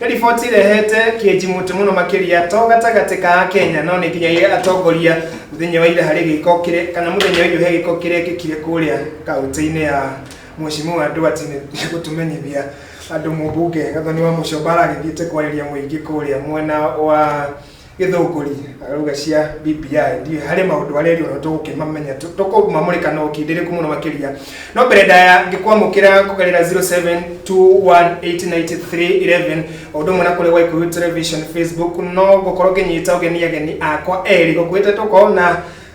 Riboti irehete kĩnjimũtĩ mũno makĩria to gatagatĩ ka Akenya no nĩkinyagia atongoria mũthenya wa ira harĩ gĩko kĩrĩa kana mũthenya wa irio he gĩko kĩrekĩkire kũrĩa kaũntĩ-inĩ ya Mheshimiwa Ndwati nĩ gũtũmenyithia andũ mũmbunge Gathoni Wamuchomba aragĩthiĩte kwarĩria mũingĩ kũrĩa mwena wa gĩthũngũri ruga cia BBI ndiũ harĩ maũndũ arĩa rĩu no tũgũkĩmamenya tũ- tũkũmamũrĩka na ũkindĩrĩku mũno makĩria no mbere ndaya ngĩkwamũkĩra kũgerera 0721898311 o ũndũ ũmwe na kũrĩa waikuyu television facebook no gũkorwo ngĩnyita ũgeni ageni akwa erĩ gũkuĩte tũko na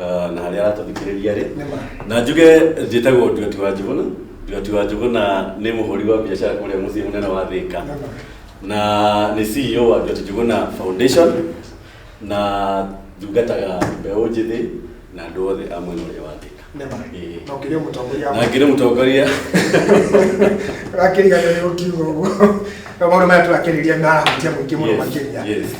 Ah, na harĩa aratũthikĩrĩria rĩ na njuge njĩtagwo nduati wa njuguna nduati wa njuguna nĩ mũhũri wa biacara kũrĩa mũciĩ mũnene wa thĩka na nĩ ceo wa nduati njuguna foundation na thungataga mbeũ njĩthĩ na andũ othe a mwena ũrĩa wa thĩka Nema. Ĩĩ. Na ũkĩrĩ mũtongoria na ngĩrĩ mũtongoria akĩrigana nĩ ũkiuga ũguo na maũndũ maya tũrakĩrĩria marahutia mũingĩ mũno Yes, makĩria yes.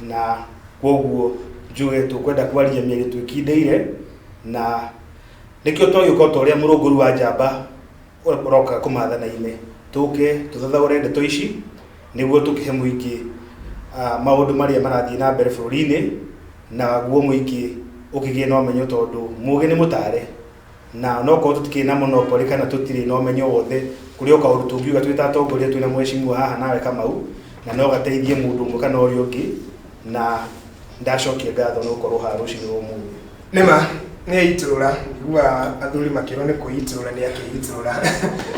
na kwoguo njuge tũkwenda kwarĩria mĩario twĩkindĩire na nĩkĩo twagĩũka ta ũrĩa mũrũngũri wa njamba ũroka kũmathana-inĩ tũke tũthathaũre ndeto ici nĩguo tũkĩhe mũingĩ ah, maũndũ marĩa marathiĩ na mbere bũrũri-inĩ naguo mũingĩ ũkĩgĩe na ũmenyo tondũ mũgĩ nĩ mũtare na no korwo tũtikĩrĩ na monopoly kana tũtirĩ na ũmenyo wothe kũrĩ o kaũndũ tũngiuga twĩ ta atongoria twĩ na mwecimua haha nawe kamau na no gateithie mũndũ ũmwe kana ũrĩa ũngĩ na ndacokia ngatho no korwo haha rũcinĩ rwa ũmũthĩ Nĩma, nĩ aitũrũra, ngĩgua athuri makĩrwo nĩ kwĩitũrũra nĩ akĩitũrũra.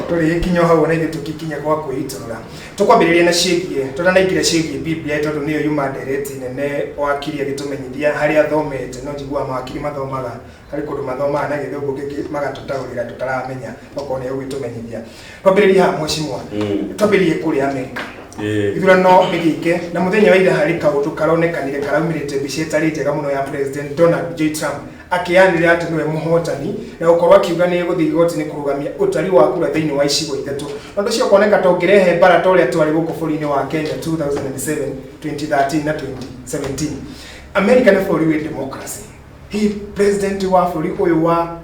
Tũrĩ kinya o hau ona ithuĩ tũkikinya gwa kwĩitũrũra. Tũkwambĩrĩria na ciĩgiĩ, tũtanaingĩra ciĩgiĩ Biblia tondũ nĩyo yuma ndereti nene wakiri agĩtũmenyithia harĩa athomete, no njiguaga mawakiri mathomaga Harĩ kũndũ mathomaga na gĩthũngũ kĩngĩ magatũtaũrĩra tũtaramenya okorwo nĩ ũgĩtũmenyithia. Twambĩrĩrie haha mheshimiwa. Mm. Twambĩrĩrie kũrĩa Amerika. Eh. Ithurano nĩgĩke na mũthenya wa ira harĩ kaũndũ karonekanire karaumĩrĩte mbica ĩtarĩ njega mũno ya President Donald J. Trump akĩyanĩrĩra atĩ nĩwe mũhotani na gũkorwo akiuga nĩ gũthiĩ igoti-inĩ kũrũgamia ũtari wa kura thĩinĩ wa icigo ithatũ. Na ũndũ ũcio ũkoneka ta ũngĩrehe mbara ta ũrĩa twarĩ gũkũ bũrũri-inĩ wa Kenya 2007, 2013 na 2017. Amerika nĩ bũrũri wĩ democracy. hihi president wa bũrũri ũyũ wa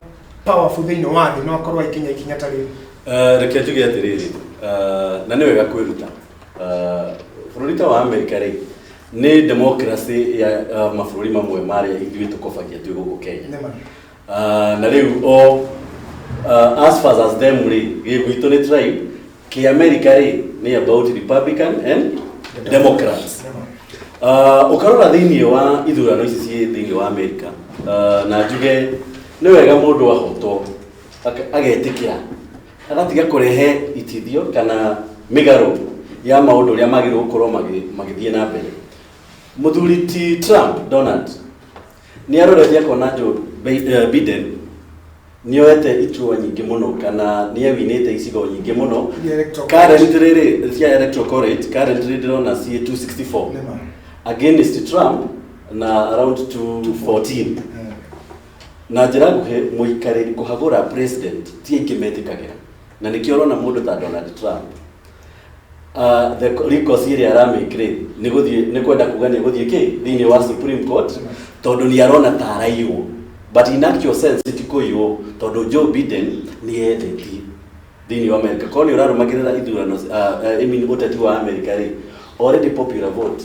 powerful thĩinĩ wa thĩ no akorwo aikinya ikinya ta rĩrĩ Eh, reke njuge atĩrĩrĩ eh, na nĩ wega kwĩruta Eh, bũrũri ta wa amerika rĩ nĩ democracy ya eh, mabũrũri mamwe marĩa ithuĩ tũkobagia twĩ gũkũ kenya Nĩ ma. Ah, na rĩu o ah, as far as them rĩ gĩgwitũ nĩ tribe ki america rĩ nĩ about republican and democrats Ah, ũkarora thĩinĩ wa ithurano ici ciĩ thĩinĩ wa america ah, na njuge nĩ wega mũndũ ahotwo aka- agetĩkĩra agatiga kũrehe itithio kana mĩgarũ ya maũndũ ũrĩa magĩrĩirwo gũkorwo magĩ- magĩthiĩ na mbere mũthuri ti trump donald nĩ arorete akona Joe Bi- eh, Biden nĩ oete iturwa nyingĩ mũno kana nĩ ewinĩte icigo nyingĩ mũno Iria electoral current rĩrĩ cia electoral college current rĩrĩ ndĩrona ciĩ 264 Nĩma. against Trump na around 214 Eh, na njĩra nguhĩ mũikarĩri kũhagũra president ti aingĩ metĩkagĩra na nĩkĩo ũrona mũndũ ta Donald Trump uh, the recourse ĩrĩa aramake rĩ nĩ gũthiĩ nĩ kwenda kuga nĩ gũthiĩ kĩ thĩinĩ wa supreme court tondũ nĩ arona ta araiywo but in actual sense ti kũiywo tondũ Joe Biden nĩ ethetie thĩinĩ wa America korwo nĩ ũrarũmagĩrĩra ithurano uh, uh, I mean ũteti wa America rĩ already popular vote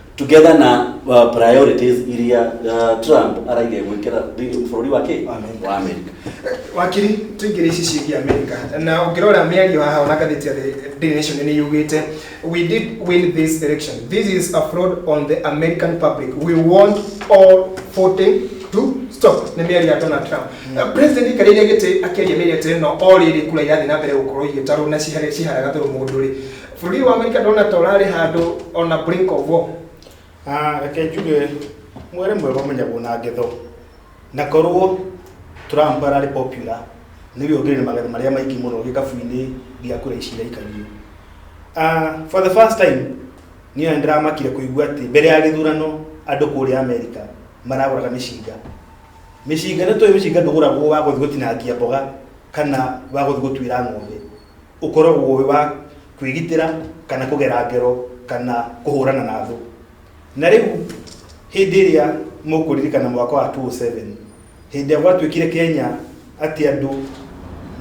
together na uh, priorities iria uh, Trump araire gwikira thĩinĩ bũrũri wa kĩ Amerika. wa Amerika wakiri tuingire ici ciĩgiĩ amerika na ũngĩrora mĩario haha ona ngathĩti ya The Daily Nation nĩ yugĩte we did win this election this is a fraud on the american public we want all voting to stop nĩ mĩario ya donald trump mm. president karĩire gĩtĩ akĩaria mĩario atĩrĩ no o rĩrĩ kura irathiĩ na mbere gũkorwo igĩtarwo na cihare- ciharaga thũrũ mũndũ rĩ Bũrũri wa Amerika ndona ta ũrarĩ handũ on a brink of war. Ah, reke njuge mwere mwega ũmenyagwo na ngetho na korwo Trump ararĩ popular nĩwe ũngĩrĩ na magetha marĩa maingĩ mũno gĩkabu-inĩ gĩa kura ici iraikarire Ah, for the first time niĩ ona ndĩramakire kũigua atĩ mbere ya gĩthurano andũ kũrĩa Amerika maragũraga mĩcinga mĩcinga nĩ tũĩ mĩcinga ndũgũragwo wa gũthiĩ gũtinangia mboga kana wa gũthiĩ gũtuĩra ng'ombe ũkoragwo wĩ wa kwĩgitĩra kana kũgera ngero kana kũhũrana na thũ na rĩu hĩndĩ ĩrĩa mũkũririkana mwaka wa 2007 hĩndĩ ĩrĩa gwatuĩkire kenya atĩ andũ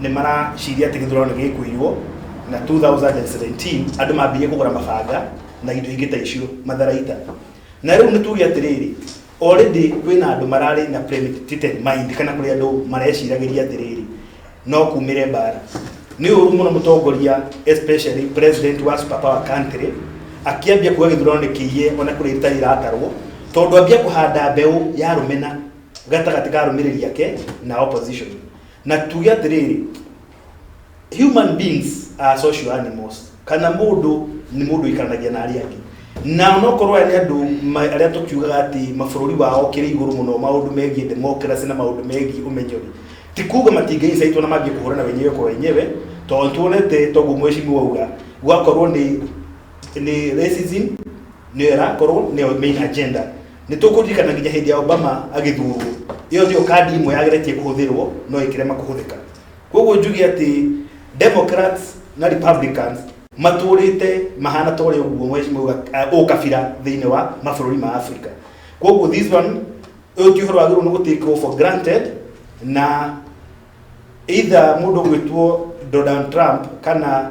nĩ maraciria atĩ gĩthurano nĩ gĩkũiywo na 2017 andũ mambirie kũgũra mabanga na indo ingĩ ta icio matharaita na rĩu nĩ tuge atĩrĩrĩ Already kwĩna andũ mararĩ na premeditated mind kana kũrĩ andũ mareciragĩria atĩrĩrĩ no kumĩre mbara. Nĩ ũru mũno mũtongoria especially president wa super power country akĩambia kuga gĩthurano nĩ kĩiye ona kũrĩa itarĩ iratarwo tondũ ambia kũhanda mbeũ ya rũmena gatagatĩ ka arũmĩrĩri ake na opposition. Na tuge atĩrĩrĩ, human beings are social animals kana mũndũ nĩ mũndũ ikaranagia na arĩa angĩ na nokorwo aya nĩ andũ ma- arĩa tũkiugaga atĩ mabũrũri wao kĩrĩ igũrũ mũno maũndũ megiĩ democracy na maũndũ megiĩ ũmenyeri ti kuga matingĩincaitwo na mambie kũhũrana wenyewe kwa wenyewe tondũ tuonete toguo mwecimi wauga gwakorwo nĩ nĩ racism nĩyo ĩrakorwo nĩyo main agenda nĩ tũkũririkana nginya hĩndĩ ya obama agĩthurwo ĩyo nĩyo kandi ĩmwe yageretie kũhũthĩrwo no ĩkĩrema kũhũthĩka koguo njuge atĩ democrats na republicans matũrĩte mahana ta ũrĩa ũguo mweci mauga uh, ũkabira thĩinĩ wa mabũrũri ma africa koguo this one ũyũ ti ũhoro wagĩrĩirwo nĩ gũtĩkwo for granted na either mũndũ gwĩtwo donald trump kana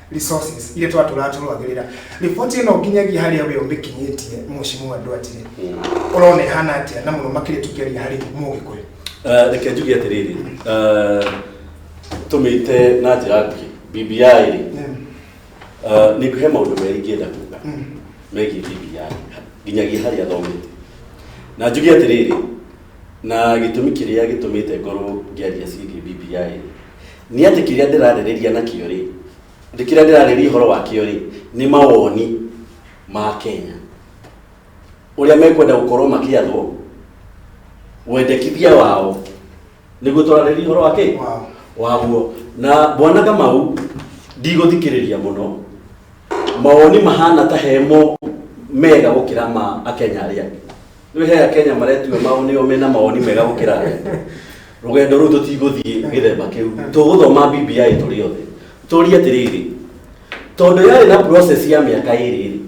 resources iria twatũraga tũrũagĩrĩra riboti ĩno nginyagia harĩa we ũmĩkinyĩtie mũcimũ andũ atire ũrona ĩhana atĩa na mũno makĩria tũkĩaria harĩ mũgĩkũyũ Eh, reke njuge atĩrĩrĩ eh, tũmĩte na njĩra nguhĩ bbi rĩ eh, nĩ ngũhe maũndũ merĩ ingĩenda kuga megiĩ bbi nginyagia harĩa thomete na njuge atĩrĩrĩ na gĩtũmi kĩrĩa gĩtũmĩte ngorwo ngĩaria ciĩgiĩ bbi nĩ atĩ kĩrĩa ndĩrarĩrĩria nakĩo-rĩ, atĩ kĩrĩa ndĩrarĩrĩria ũhoro wakĩo-rĩ, nĩ mawoni ma Kenya, ũrĩa mekwenda gũkorwo makĩathwo, wendekithia wao, nĩguo tũrarĩrĩria ũhoro wa kĩ? Wao. waguo na bwana kamau ndigũthikĩrĩria mũno mawoni mahana ta hemo mega gũkĩra ma akenya arĩa angĩ Nĩ he Akenya maretua mao nĩo mena mawoni mega gũkĩra andũ aitũ. Rũgendo rũu tũtigũthiĩ gĩthemba kĩu. Tũgũthoma BBI tũrĩ othe. Tũrie atĩrĩrĩ, tondũ yarĩ na process ya mĩaka ĩrĩ rĩ,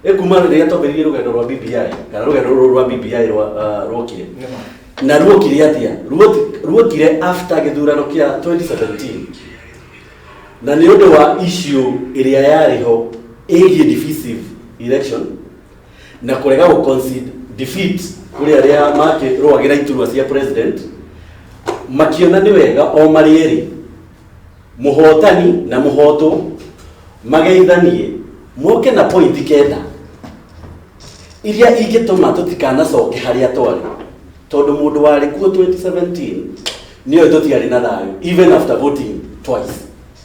ĩ kuma rĩrĩa twambĩrĩirie rũgendo rwa BBI kana rũgendo rũrũ rwa BBI rwa ah, rwokire na ruokire atĩa Ruoki- ruokire after gĩthurano kĩa 2017 na nĩ ũndũ wa issue ĩrĩa yarĩ ho ĩgiĩ divisive election na kũrega gũ concede defeat kũrĩ arĩa makĩrũagĩra iturwa cia president makiona nĩ wega o marĩ erĩ mũhotani na mũhotwo mageithanie moke na pointi kenda iria ingĩtũma tũtikanacoke harĩa twarĩ tondũ mũndũ warĩ kuo 2017 nĩoĩ tũtiarĩ na thayũ even after voting twice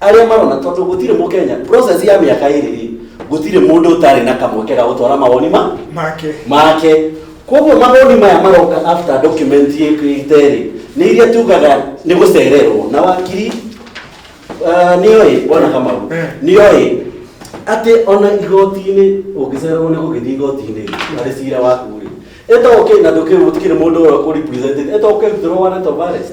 arĩa marona tondũ gũtirĩ mũkenya process ya mĩaka ĩrĩ rĩ gũtirĩ mũndũ ũtarĩ na kamweke ga gũtwara mawoni ma make make koguo mawoni maya maroka after document ĩkĩte rĩ nĩ iria tugaga nĩ gũcererwo na wakiri ah, nĩ oĩ bwana kamau Eh. nĩ oĩ atĩ ona igoti-inĩ ũngĩcererwo nĩ gũgĩthiĩ igoti-inĩ rĩ, harĩ cira waku rĩ ĩto ũkĩ na ndũkĩrĩ mũndũ ũrĩa kũ represent ĩto ũkĩrutĩrwo warrant of arrest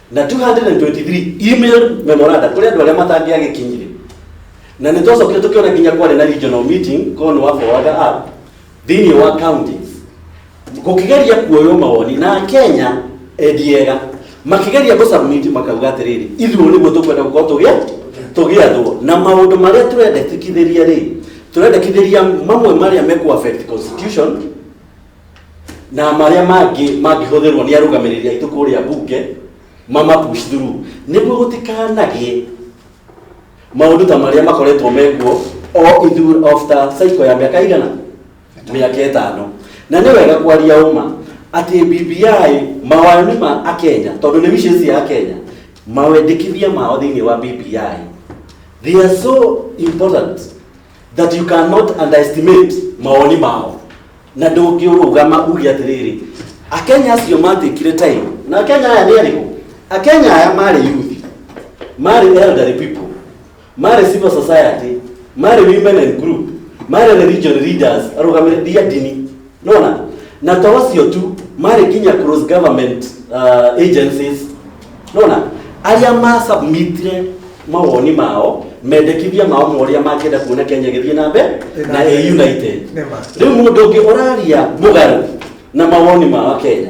na 223 email memoranda kuri andu aria matangĩagĩkinyire na nĩ twacokire tũkĩona nginya kwarĩ na regional meeting korwo nĩ wa forwarder up thĩinĩ wa county gũkĩgeria kuoywo mawoni na kenya endiega makĩgeria gũcamiti makauga atĩrĩrĩ ithuĩ nĩguo tũkwenda gũkorwo tũgĩa tũgĩathwo na maũndũ marĩa tũrendekithĩria rĩ tũrendekithĩria mamwe marĩa mekũ affect constitution na marĩa mangĩ mangĩhũthĩrwo nĩ arũgamĩrĩri aitũ kũrĩa mbunge mama push through nĩguo gũtikanagĩe maũndũ ta marĩa makoretwo mekuo o ithu after cycle ya mĩaka igana mĩaka ĩtano na nĩ wega kwaria ũma atĩ BBI mawoni ma akenya tondũ nĩ wishes ya akenya mawendekithia mao thĩinĩ wa BBI they are so important that you cannot underestimate mawoni mao na ndũngĩũrũgama uge atĩrĩrĩ akenya acio matĩkire time na akenya aya nĩ arĩkũ akenya aya marĩ youth marĩ elderly people marĩ civil society marĩ women and group marĩ religion leaders arũgamĩrĩria ndini nona na to ũcio tu marĩ nginya cross government uh, agencies nona arĩa masubmitire mawoni mao mendekithia mao ma ũrĩa mangĩenda kuona kenya ĩgĩthiĩ na mbere na ĩ united Nĩ ma. rĩu mũndũ ũngĩ ũraria mũgarũ na mawoni ma wakenya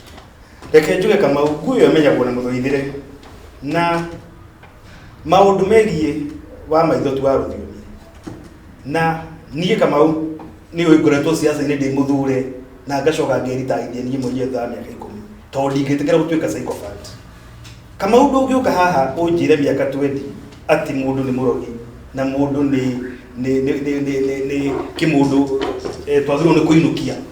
reke njuge kamau nguo ĩyo ĩmenyagwo na mũthũithĩre na maũndũ megiĩ wa maitho tu wa rũthiomi na niĩ kamau nĩ ũĩ ngoretwo ciaca-inĩ ndĩ mũthure na ngacoka ngeritahithia niĩ mwenyewe thutha wa mĩaka ikũmi tondũ ndingĩtĩkĩra gũtuĩka sycophant kamau ndũngĩũka haha ũnjĩre mĩaka 20 atĩ mũndũ nĩ mũrogi na mũndũ nĩ nĩ nĩ nĩ nĩ nĩ nĩ kĩmũndũ eh, twagĩrĩirwo nĩ kũinũkia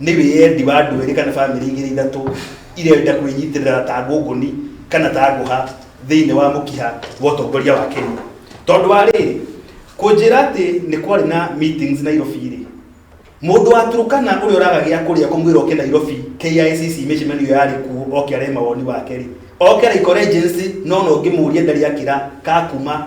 Nĩ wĩyendi wa andũ erĩ kana famĩlĩ igĩrĩ ithatũ irenda kwĩnyitĩrĩra ta ngũngũni kana ta ngũha thĩinĩ wa mũkiha wa ũtongoria wa Kenya. Tondũ wa rĩrĩ, kũnjĩra atĩ nĩ kwarĩ na meetings Nairobi-rĩ, mũndũ wa Turkana ũrĩa ũraga gĩa kũrĩa kũmwĩra oke Nairobi KICC mĩcemanio yarĩ kuo oke arehe mawoni wake-rĩ, oke Laikor Agency nona ũngĩmũria ndarĩ akĩra ka kuma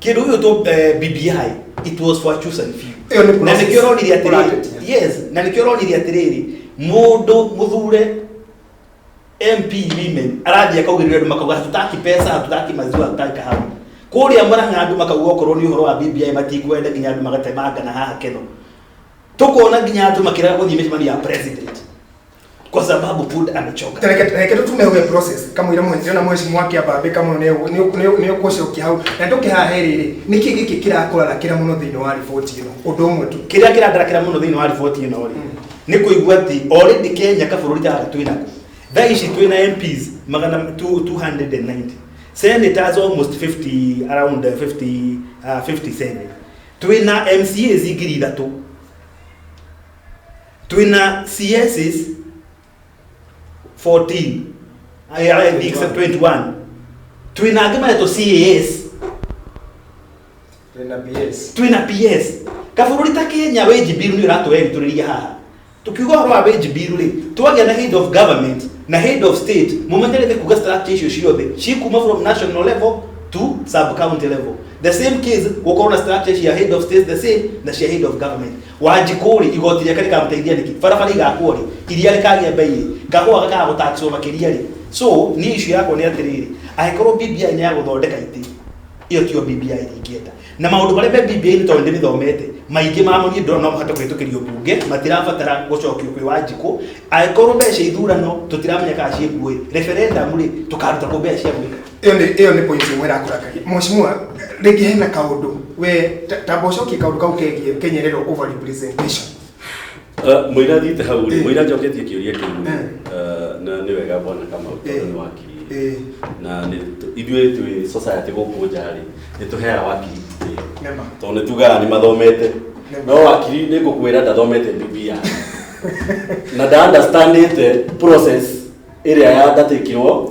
kĩndũ gĩkĩ tũ eh, BBI it was for choose and few Ĩyo nĩ na process. nĩkĩo ũronire atĩrĩrĩ Ũratetia. yes na nĩkĩo ũronire atĩrĩrĩ mũndũ mũthure MP women arathiĩ akaugĩrĩria andũ makauga hatutaki pesa hatutaki maziwa hatutaki kahawa kũrĩa mũrang'a andũ makauga okorwo nĩ ũhoro wa BBI matikwenda nginya andũ magatemangana haha keno tũkona nginya andũ makĩrega gũthiĩ mĩcemanio ya president kwa sababu buda amechoka reke tutume uge process kamwira mwenzio na mheshimu wake abambe kamwe ne ne kucokia hau na nduke haha rĩrĩ nĩkĩ gĩkĩ kĩrakũrarakĩra mũno thĩinĩ wa riboti ĩno ũndũ ũmwe tu kĩrĩa kĩrandarakĩra mũno thĩinĩ wa riboti ĩno rĩ nĩ kũigua atĩ already kenya kabũrũri gaka twĩ nako thaa ici twĩ na mps magana two- 290 senators almost 50 around uh, 50 uh, 57 twĩ na mcas ngiri ithatũ twina css 14 aya aya big 21 twina angi mareto cas twina ps twina ps kabũrũri ta kenya wage bill nĩ ũratũeritũrĩria haha tukiuga ũhoro wa wage bill rĩ twagĩa na head of government na head of state mũmenyere nĩ kuga structure icio ciothe cikuma from national level to sub county level the same case gũkorwo na structure cia head of state the same na cia head of government wanjikũrĩ igoti rĩake rĩkamũteithia nĩkĩ barabara igakuo rĩ iria rĩkagĩa mbei rĩ ngagũa gakaga gũtaxwo makĩria rĩ so niĩ icio yakwa nĩ atĩrĩrĩ angĩkorwo BBI nĩ ya gũthondeka itĩ iyo tiyo BBI ingĩenda na maũndũ marĩa me BBI nĩ tondũ ndĩmĩthomete maingĩ mamo niĩ ndona no mahote kũhĩtũkĩrio mbunge matirabatara gũcokio kwĩ wanjikũ angĩkorwo mbeca ithurano tũtiramenya kana ciĩ nguo rĩ referendum rĩ tũkaruta kũ mbeca cia gwĩka ĩyo nĩ ĩyo nĩ point ĩmwe ĩrakũrakaria mheshimiwa rĩngĩ hena kaũndũ we ta- ta mbocokie kaũndũ kau kegiĩ kenyerero over representation Uh, Mũira thiĩte hau rĩ, Eh. mũira njoketie kĩũria kĩu Eh. uh, na nĩ wega bwana Kamau Eh. tondũ nĩ wakiri Eh. na nĩ tũ- ithuĩ twĩ society gũkũ nja rĩ nĩ tũheaga wakiri gĩtĩo. Nema. tondũ nĩ tugaga nĩ mathomete Nema. no wakiri nĩ ngũkwĩra ndathomete BBI na nda understandĩte process ĩrĩa yandatĩkirwo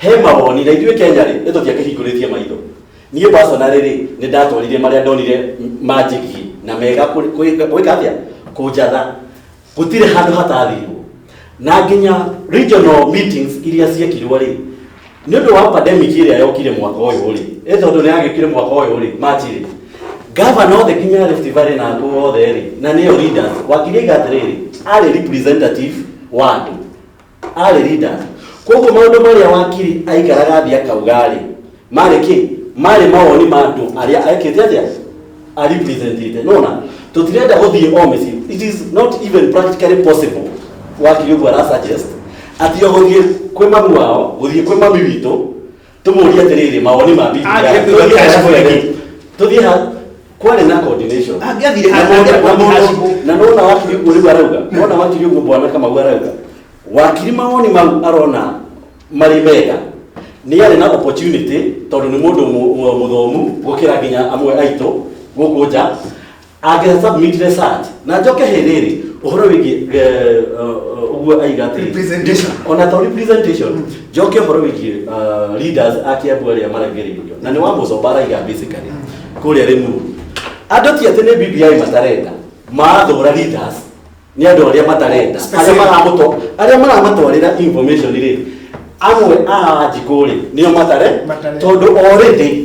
he mawoni na ithuĩ kenya rĩ nĩ tũtiakĩhingũrĩtie maitho niĩ personally rĩ nĩ ndatwarire marĩa ndonire manjigiĩ na mega kũ- kũ- gwĩka atĩa kũnjatha gũtirĩ handũ hatathirwo na nginya regional meetings iria ciekirwo rĩ nĩ ũndũ wa pandemic ĩrĩa yokire mwaka ũyũ rĩ ĩ tondũ nĩ yagĩkire mwaka ũyũ rĩ machi rĩ gavana othe nginya Rift Valley na andũ othe rĩ na nĩyo leaders wakiri aiga atĩrĩrĩ arĩ representative wa andũ arĩ leaders koguo maũndũ marĩa wakiri aikaraga thĩ akauga-rĩ marĩ kĩ marĩ mawoni ma andũ arĩa ekĩte atĩa arepresentĩte nona tũtirenda gũthiĩ o mĩciĩ it is not even practically possible wakiri ũguo ara suggest atĩ o gũthiĩ kwĩ mamu wao gũthiĩ kwĩ mami witũ tũmũũrie atĩrĩrĩ mawoni ma bibi Ah, yake. nĩguo Tũthiĩ hacibu hacibu rĩngĩ. tũthiĩ ha kwarĩ na coordination Angĩathire Na mũndũ- angĩathire na mũndũ- hacibu. na nona wakiri ũguo rĩu arauga nona wakiri ũguo bwana kamau arauga wakiri mawoni mau arona marĩ mega nĩ arĩ na opportunity tondũ nĩ mũndũ mũ- mũ- mũthomu gũkĩra nginya amwe aitũ gũkũ nja angĩra submit research na njoke hĩ rĩrĩ ũhoro wĩgiĩ eh, eh, ũguo aiga atĩ Representation. ona to representation njoke ũhoro wĩgiĩ uh, leaders a Kiambu arĩa maregereirio na nĩ wa mũcomba araiga basically kũrĩa Limuru andũ ti atĩ nĩ BBI matarenda mathũra leaders nĩ andũ arĩa matarenda arĩa Specific. maramũtwa arĩa maramatwarĩra information rĩ amwe a njikũ rĩ nĩo matare Matare. tondũ already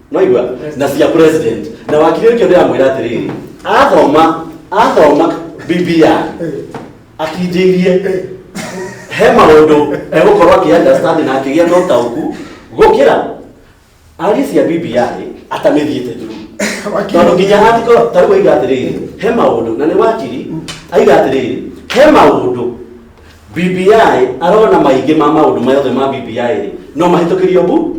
mwaigua na cia president na wakiri ũcio ndĩramwĩra atĩrĩrĩ athoma athoma bibia akinjĩirie he maũndũ egũkorwo akĩunderstand na akĩgĩa na ũtaũku gũkĩra ari cia bibia rĩ atamĩthiĩte thuru tondũ nginya atiko tarĩu aiga atĩrĩrĩ he maũndũ na nĩ wakiri aiga atĩrĩrĩ he maũndũ BBI arona maingĩ ma maũndũ mayothe ma BBI rĩ no mahĩtũkĩrio bu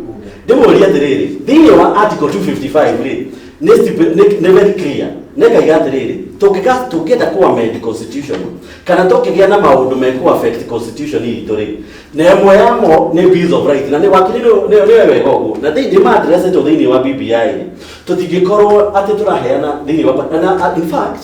ndĩmũũria atĩrĩrĩ thĩinĩ wa article 255 rĩ nĩ stipu- nĩ- nĩ very clear nekaiga atĩrĩrĩ tũngĩka- tũngĩenda kũ amend constitution kana tũkĩgĩa na maũndũ mekũ affect constitution itũ rĩ na ĩmwe yamo nĩ bills of right na nĩ wakĩrĩrwo nĩ nĩ wega ũguo na thĩinĩ nĩ maadressetwo thĩinĩ wa BBI rĩ tũtingĩkorwo atĩ tũraheana thĩinĩ wa na- na in fact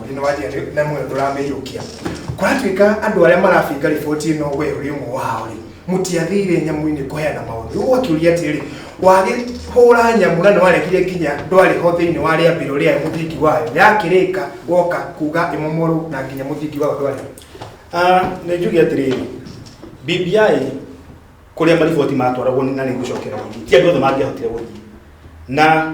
Thĩinĩ wa njĩra ĩrĩa na muoyo ndũramĩiyũkia. Kũratuĩka andũ arĩa marabinga riboti ĩno we ũrĩ ũmwe wao rĩ, mũtiathire nyamũ-inĩ kũheana maũndũ. Rĩu ũgakĩũria atĩrĩrĩ, wagĩhũra nyamũ na nĩ warekire nginya ndwarĩ ho thĩinĩ wa rĩambĩro rĩa mũthingi wayo, yakĩrĩka woka kuga ĩmomorwo na nginya mũthingi wayo ndwarĩ ho. Ah, nĩ njuge atĩrĩrĩ BBI kũrĩa mariboti matwaragwo na nĩ ngũcokera gũthiĩ ti andũ othe mangĩahotire gũthiĩ na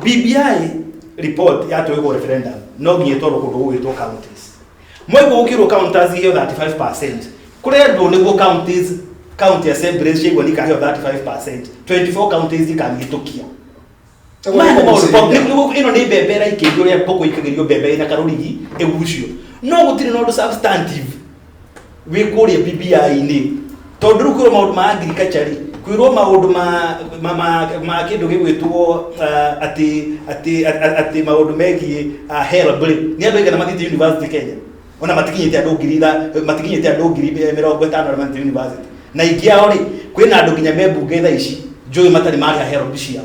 BBI report yatwĩkwo referendum no nginya ĩtwarwo kũndũ gũgĩtwo counties mwaigua gũkĩrwo counties iheo 35 kũrendwo nĩguo counties county assemblies ciaigua nikaheo 35 24 counties ikamĩhĩtũkia Maya nĩ maũndũ- nĩ- nĩguo- ĩno nĩ mbembe ĩraikĩrio rĩa ngũkũ ikagĩrio mbembe ĩna karũrigi ĩgucio no gũtirĩ na ũndũ substantive wĩ kũrĩa BBI-inĩ tondũ rĩu kwĩrwo maũndũ ma agriculture rĩ kwĩrwo maũndũ ma ma ma, ma kĩndũ gĩgwĩtwo uh, atĩ atĩ atĩ- atĩ maũndũ megiĩ uh, help rĩ nĩ andũ aigana mathiĩte university Kenya ona matikinyĩte andũ ngiri itha- matikinyĩte andũ ngiri mĩ- mĩrongo ĩtano arĩa mathiĩte university na ingĩ ao rĩ kwĩna andũ nginya me mbunge thaa ici njũĩ matarĩ marĩha help ciao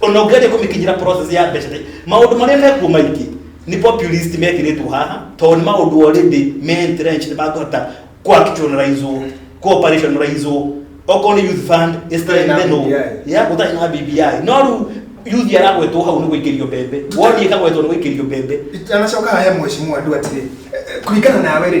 ona ũngĩgeria kũmĩkinyĩra process ya mbeca rĩ, maũndũ marĩa mekuo maingĩ nĩ populist mekĩrĩtwo haha tondũ nĩ maũndũ already me entrenched makũhota kuactionalizewo kuoperationalizewo okorwo nĩ youth fund is Gũtarĩ na strengthenwo BBI. ya gũtarĩ na BBI no rĩu yuthi aragwetwo hau nĩ gũikĩrio mbembe woni ĩkagwetwo nĩ gũikĩrio mbembe itanacoka he mheshimiwa ndu atiri kũringana nawe rĩ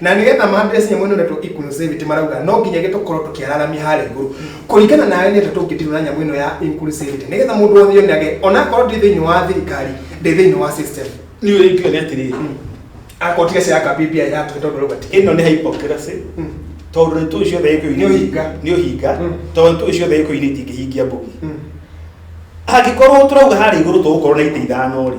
Na nĩgetha maambĩrĩrie nyamũ ĩno ĩretwo inclusivity marauga no nginya gĩtũkorwo tũkĩararamia harĩa igũrũ kũringana nawe nĩ atĩa tũngĩdilo na nyamũ ĩno ya inclusivity nĩgetha mũndũ wothe yonage onakorwo ndĩ thĩinĩ wa thirikari ndĩ thĩinĩ wa system niä rä ngiuga nä atä rä akorwo tiga cia kambä mbia ya tå tondå rauga ä no nä hypocrisy tondå nä tå ciothe gä Nĩ ũhinga. nä å hinga Mm. tondå tå ciothe gä kå inä itingä hingia mbå angä korwo tå rauga harä igå rå tå gå korwo na itä ithano rä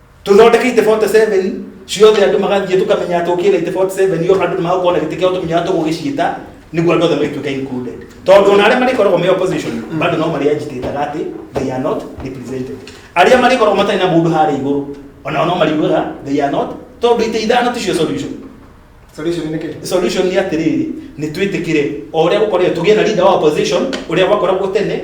tũthondeke ite 47 ciothe andũ magathiĩ tũkamenya atĩ ũkĩra ite 47 yo andũ nĩmagũkorwo na gĩtĩ kĩao tũmenya atĩ tũgũgĩciĩta nĩguo andũ othe magĩtuĩka included tondũ ona arĩa marĩkoragwo me opposition bado no marĩ agitated atĩ they are not represented arĩa marĩkoragwo matarĩ na mũndũ harĩa igũrũ ona no marĩugaga they are not tondũ ite ithano ticio solution Solution nĩ kĩĩ? solution nĩ atĩrĩrĩ nĩ twĩtĩkĩre o ũrĩa gũkoragwo tũgĩe na leader wa opposition ũrĩa gwakoragwo tene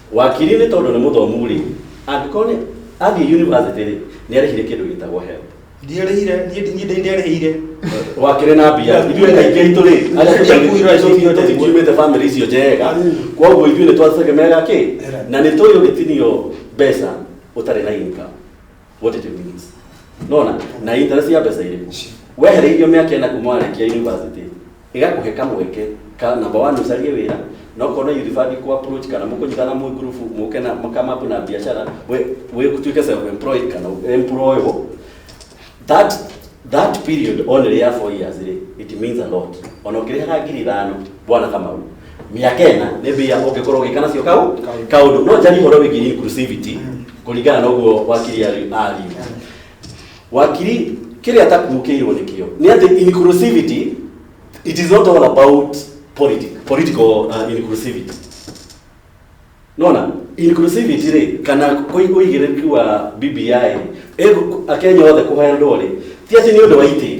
Wakiri nĩ tondũ nĩ mũthomu rĩ, angĩkorwo nĩ athiĩ university rĩ, nĩ arĩhire kĩndũ gĩtagwo help. Ndiarĩhire, niĩ niĩ ndĩ- ndiarĩhire. Wakĩrĩ na mbia, ithuĩ kaingĩ aitũ rĩ, arĩa tũtiumĩte- tũtiumĩte- tũtiumĩte family icio njega, kwoguo ithuĩ nĩ twategemeaga kĩ? Na nĩ tũĩ ũngĩtinio mbeca ũtarĩ na income. what did it means nona na interest ya mbeca irĩkũ wehereirio mĩaka ĩna kuma warĩkia university ĩgakũhe kamweke ka namba wa nũcarie wĩra na okorwo na yunibati kũ approach kana mũkũnyitana mwĩ group mũke na mũkamapu na biacara we- we tuĩke self employed kana employable that that period only ya four years rĩ it means a lot ona ũkĩrĩhaga ngiri ithano bwana kamau mĩaka ĩna nĩ mbia ũngĩkorwo ũgĩka nacio kau kaũndũ no njari ũhoro wĩgiĩ inclusivity kũringana na ũguo wakiri ari- ariu wakiri kĩrĩa takuũkĩirwo nĩkĩo nĩ atĩ inclusivity it is not all about politi political uh, inclusivity nona inclusivity rĩ kana kũi- ũigĩrĩrĩki wa bbi ĩ, akenya othe kũheo ndorĩ ti atĩ nĩ ũndũ wa itĩ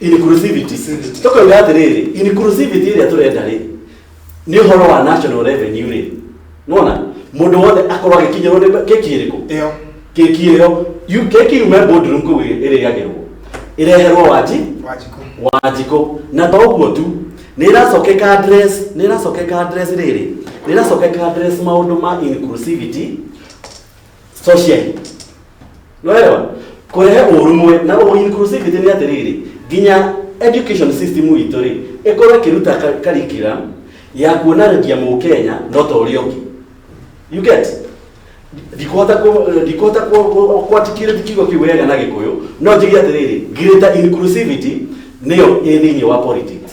inclusivity tũkoiga atĩrĩrĩ inclusivity ĩrĩa tũrenda rĩ nĩ ũhoro wa national revenue rĩ nona mũndũ wothe akorwo agĩkinyĩrwo nĩ keki ĩrĩkũ ĩyo keki ĩyo yu- keki yume boardroom kũu ĩ- ĩrĩagĩrwo ĩreherwo wanji wanjikũ wanjikũ na to ũguo tu nĩ ĩracokeka address nĩ ĩracokeka address rĩrĩ nĩ ĩracokeka address maũndũ ma inclusivity social nĩwega kũrehe ũrũmwe na ũ inclusivity nĩ atĩrĩrĩ nginya education system witũ rĩ ĩkorwo ĩkĩruta ka- curriculum ya kuonanagia mũkenya no ta ũrĩa ũngĩ you get ndikuhota ku- ndikuhota ku- ku- kwatikire kiugo kĩu wega na gĩkũyũ no njige atĩrĩrĩ greater inclusivity nĩyo ĩ thĩinĩ wa politics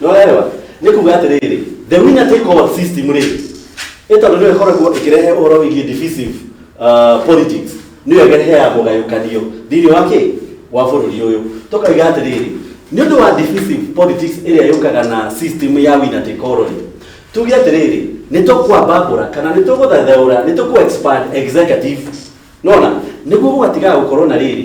nĩwarewa nĩ kuga atĩrĩrĩ the winner take all system rĩ ĩtondũ nĩyo ĩkoragwo ĩkĩrehe ũhoro wĩgiĩ divisive uh, politics nĩyo ĩreheaga mũgayũkanio thĩinĩ wa kĩ wa bũrũri ũyũ tũkaiga atĩrĩrĩ nĩ ũndũ wa divisive politics ĩrĩa yũkaga na system ya winner take all rĩ tuge atĩrĩrĩ nĩ tũkwambambũra kana nĩ tũgũthathaũra nĩ tũkũ expand executive nona nĩguo gũgatigaga gũkorwo na rĩrĩ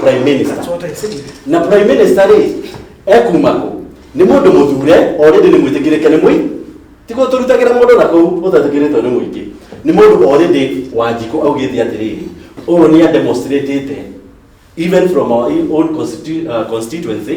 prime minister That's what I said. na prime minister rĩ ekuma kũ nĩ mũndũ mũthure already nĩ mwĩtĩkĩrĩke nĩ mũi tiguo tũrutagĩra mũndũ na kũu ũtatĩkĩrĩtwo nĩ mũingĩ nĩ mũndũ already wanjikũ augĩte atĩrĩrĩ ũyũ nĩ ademonstratĩte even from our own constitu- uh, constituency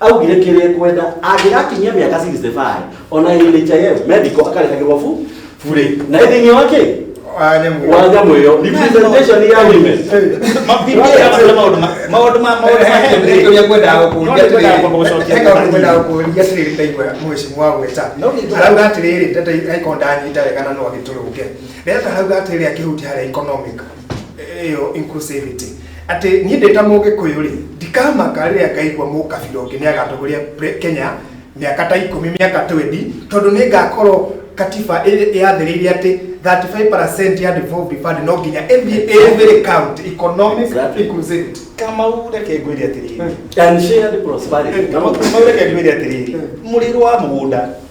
augire kĩrĩa ekwenda angĩgakinyia mĩaka 65 ona NHIF medical akarĩhagĩrwo bu burĩ na ĩthĩinĩ wake wa nyamũ ĩyo representation ya women arauga atiriri ndata aikondanyita wega na no agitulunge ndata arauga atiriri akihuti hari economic ĩyo inclusivity atĩ niĩ ndĩ ta mũgĩkũyũ rĩ ndikamaka rĩrĩa ngaigua mũkabira ũngĩ nĩ agatongoria pre- kenya mĩaka ta ikũmi mĩaka 20 tondũ nĩ ngakorwo katiba ĩ- yathĩrĩire atĩ 35 ya devolved fund no nginya ĩthiĩ every county economic Exactly. inclusivity kamau reke ngwĩre atĩrĩrĩ and shared prosperity kama kumau reke ngwĩre atĩrĩrĩ mũrĩrwo wa mũgũnda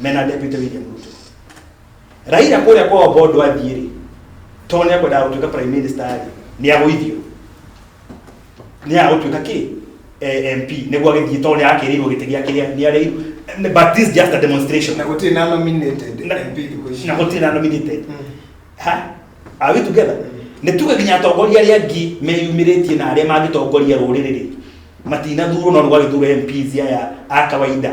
mena deputy William Ruto Raila kũrĩa kwa Obodo athiĩ rĩ to nĩ akwendaga gũtuĩka prime minister rĩ nĩ agũithio nĩ agũtuĩka kĩ eh, MP nĩguo agĩthiĩ to nĩ akĩrĩirwo gĩtĩ gĩa kĩrĩa nĩ arĩ but this is just a demonstration na gũtirĩ na nominated Na- MP thikũ ici na gũtirĩ na nominated Mm. ha are we together nĩ tuge nginya atongoria arĩa angĩ meyumĩrĩtie na arĩa mangĩtongoria rũrĩrĩ rĩ matinathurwo no nĩ gwagĩthura MPs aya a kawaida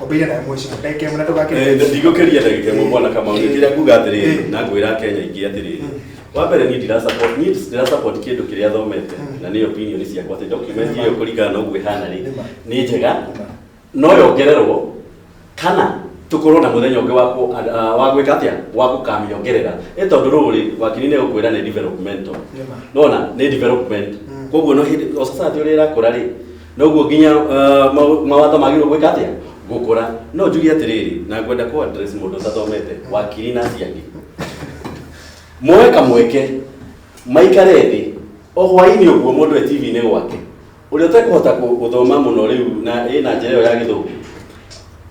Obeire na mwisho. Ndeke mna toka kile. Eh, ndigũkĩria ndagĩka ĩmwe mwana kama ũrĩ kĩrĩa nguga atĩrĩrĩ Eh. na ngwĩra kenya ingĩ atĩrĩrĩ wa mbere niĩ ndira support niĩ ndira support kĩndũ kĩrĩa thomete na nĩ opinion ciakwa atĩ document ĩyo kũringana na ũguo ĩhana rĩ Nĩma. nĩ njega Nĩma. no yongererwo kana tũkorwo na mũthenya ũngĩ wa kũ- a- a- wa gwĩka atĩa wa gũkamĩongerera ĩ tondũ rũrĩ wakiri nĩ gũkwĩra nĩ developmental Nĩma. nona nĩ development Mm. koguo no hĩndĩ o society ũrĩa ĩrakũra rĩ noguo nginya uh, mau- mawatho magĩrĩirwo gwĩka atĩa gũkũra no njuge atĩrĩrĩ na ngwenda kũ address mũndũ ũtathomete wakiri na ciangi moe kamweke maikare thĩ o hwainĩ ũguo mũndũ e tv-inĩ gwake ũrĩa ũtekũhota kũ- gũthoma mũno rĩu na ĩ na njĩra ĩyo ya gĩthũngũ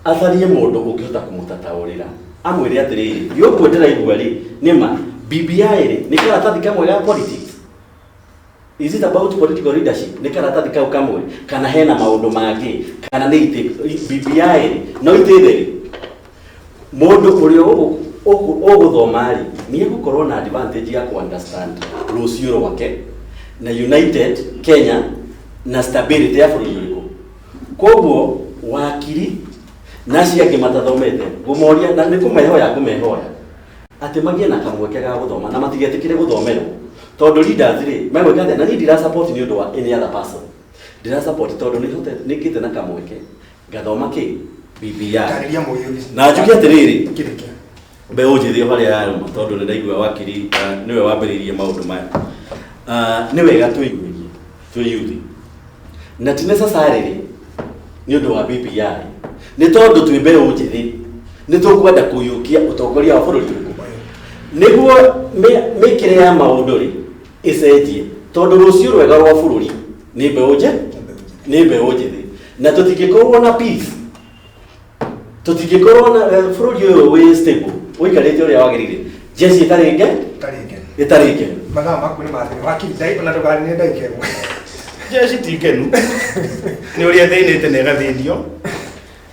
atharie mũndũ ũngĩhota kũmũtataũrĩra amwĩre atĩrĩrĩ gĩũkuo ndĩraigua rĩ nĩ ma bbi rĩ nĩ karatathi kamwe ga politics Is it about political leadership? Nĩ karatathi kau kamwe kana hena maũndũ mangĩ kana nĩ itĩ BBI no itĩ theri mũndũ ũrĩa ũgũ- ũgũ- ũgũthoma rĩ nĩ egũkorwo na advantage ya ku understand rũciũ rwake na united kenya na stability ya bũrũri ũrĩkũ koguo wakiri na acio angĩ matathomete ngũmoria na nĩ kũmehoya ngũmehoya atĩ magĩe na kamweke ga gũthoma na matigetĩkĩre gũthomerwo tondũ leaders rĩ megwĩka atĩa na niĩ ndira support nĩ ũndũ wa any other person ndira support tondũ nĩhote nĩngĩte na kamweke ngathoma kĩ BBI Tarĩria mũyũthi. na njuge atĩrĩrĩ Kĩreke. mbeũ njĩthĩ harĩa yarũma tondũ nĩ ndaigua wakiri ah, nĩwe wambĩrĩirie maũndũ maya Ah, nĩ wega twĩnyihie twĩyuthi na ti necessarily nĩ ũndũ wa BBI nĩ tondũ twĩ mbeũ njĩthĩ nĩ tũkwenda kũiyũkia ũtongoria wa bũrũri nĩguo mĩ- mĩkĩre ya maũndũ rĩ ĩcenjie tondũ rũciũ rwega rwa bũrũri nĩ mbeũ njĩ nĩ mbeũ njĩthĩ na tũtingĩkorwo na peace tũtingĩkorwo na eh, bũrũri ũyũ wĩ stable ũikarĩte ũrĩa wagĩrĩire jesi ĩtarĩ nge Tarĩ ngenu. ĩtarĩ nge Mathaa maku nĩ mathĩna. Wakiri ndai- ona ndũkanine ndagĩka ĩmwe. jesi ti ngenu nĩ ũrĩa thĩnĩte na ĩgathĩnio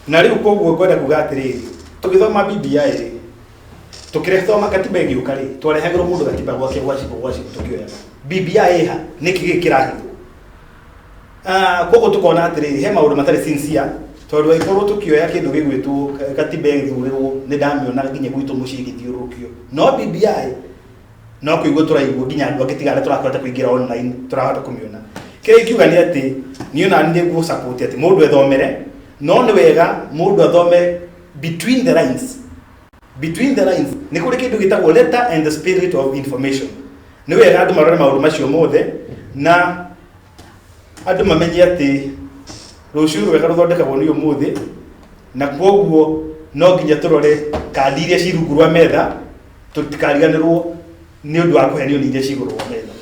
na rĩu koguo ngwenda kuga atĩrĩrĩ tũgĩthoma bbi rĩ tũkĩrehe thoma katiba ĩgĩũka rĩ twarehagĩrwo mũndũ katiba gwake gwacibũ gwacibũ tũkĩoyaga bbi ĩha nĩkĩ gĩkĩ kĩrahithwo Ah, koguo tukona atiriri he maundu matari sincere tondu angikorwo tukioya kindu gigwitwo katiba ithurirwo ni ndamiona nginya gwitu mucii githiurukio no BBI no kuigua turaigua nginya andu angi tiga aria turakota kuingira online turahota kumiona kiri ingiuga ni ati ni ona ni ngu support ati mundu ethomere no ni wega mundu athome between the lines between the lines nä kå rä kä ndå gä tagwo letter and the spirit of information nä wega andå marore maå ndå macio mothe na andå mamenye atä rå ciå rwega rå thondekagwo nä å må thä na kwoguo no nginya tå rore kandi iria ci rungu rwa metha tå tikariganä rwo nä å ndå wa kå henio nä iria ci igå rå rwa metha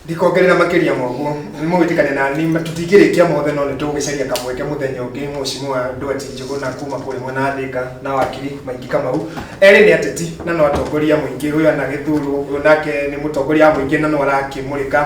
ndikongerera makĩria moguo mũgĩtikane na ni tũtingĩrĩkia mothe no nĩ tũgũgĩcaria kamweke mũthenya ũngĩ mũcimu wa ndwati njũgũ na kuma kũrĩ mwena wa thĩka na wakiri maingĩ kamau erĩ nĩ ateti na no atongoria mũingĩ ũyũ anagĩthurwo ũyũ nake nĩ mũtongoria wa mũingĩ na no arakĩmũrĩka